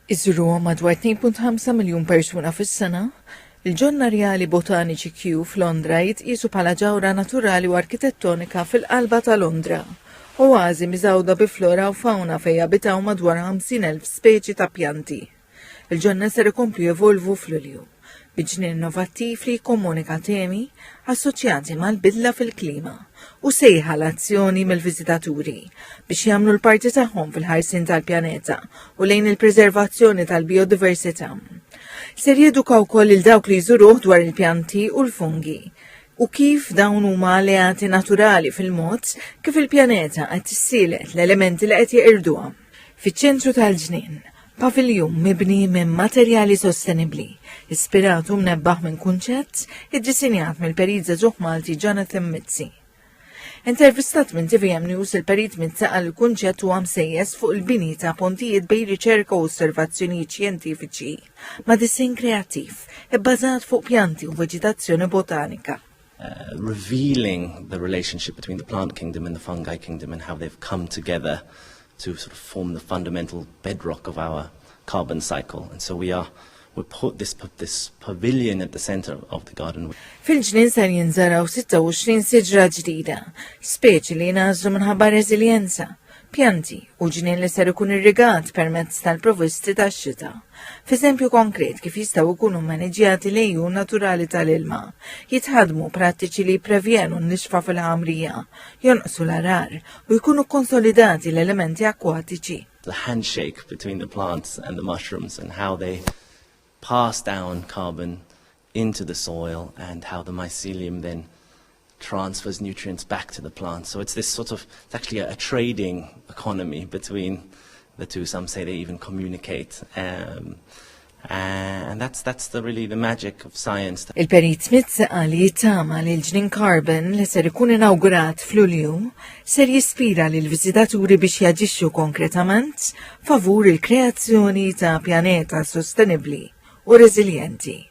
iżuruhom madwar 2.5 miljun persuna fis-sena, il-ġonna rjali botaniċi Kew f'Londra jitqiesu bħala ġawhra naturali u arkitettonika fil-qalba ta' Londra, oażi miżgħuda bi flora u fawna fejn jabitaw madwar 50,000 speċi ta' pjanti. Il-ġonna ser ikomplu jevolvu f'Lulju. bi ġnien innovattiv li jikkomunika temi assoċjati mal-bidla fil-klima u sejħa għal azzjoni mill-viżitaturi biex jagħmlu l-parti tagħhom fil-ħarsien tal-pjaneta u lejn il-preservazzjoni tal-bijodiversità. Ser jeduka wkoll lil dawk li jżuruh dwar il-pjanti u l-fungi u kif dawn huma alleati naturali fil-mod kif il-pjaneta qed tissielet l-elementi li qed jeqirduha. Fiċ-ċentru tal-ġnien, paviljun mibni minn materjali sostenibbli, ispirat u mnebbaħ minn kunċett iddisinjat mill-perizza ġuħ Malti Jonathan Mizzi. Intervistat minn TVM News il-perit Mizzi għal kunċett u għamsejjes fuq il-bini ta' pontijiet bej riċerka u osservazzjonijiet xjentifiċi ma' disin kreattiv, ibbażat fuq pjanti u veġitazzjoni botanika. Uh, revealing the relationship between the plant kingdom and the fungi kingdom and how they've come together to sort of form the fundamental bedrock of our carbon cycle. And so we are we put this, this pavilion at the center of the garden. Fil-ġnien ser jinżaraw 26 siġra ġdida, speċi li jnażlu minħabba reżiljenza, pjanti u ġnien li ser ikun irrigat permezz tal-provvisti tax-xita. F'eżempju konkret kif jistgħu jkunu mmaniġjati l-għejun naturali tal-ilma, jitħaddmu prattiċi li jipprevjenu n-nixfa fil-ħamrija, jonqsu l-għargħar u jkunu kkonsolidati l-elementi akkwatiċi. the handshake between the plants and the mushrooms and how they pass down carbon into the soil and how the mycelium then transfers nutrients back to the plant. So it's this sort of, it's actually a, a trading economy between the two. Some say they even communicate. Um, uh, and that's, that's the, really the magic of science. Il-Perit Smith għali tama li l-ġnin carbon li ser ikun inaugurat fl-ulju ser jispira li l-vizitaturi biex jaġixxu konkretament favur il-kreazzjoni ta' pjaneta sostenibbli u reżiljenti.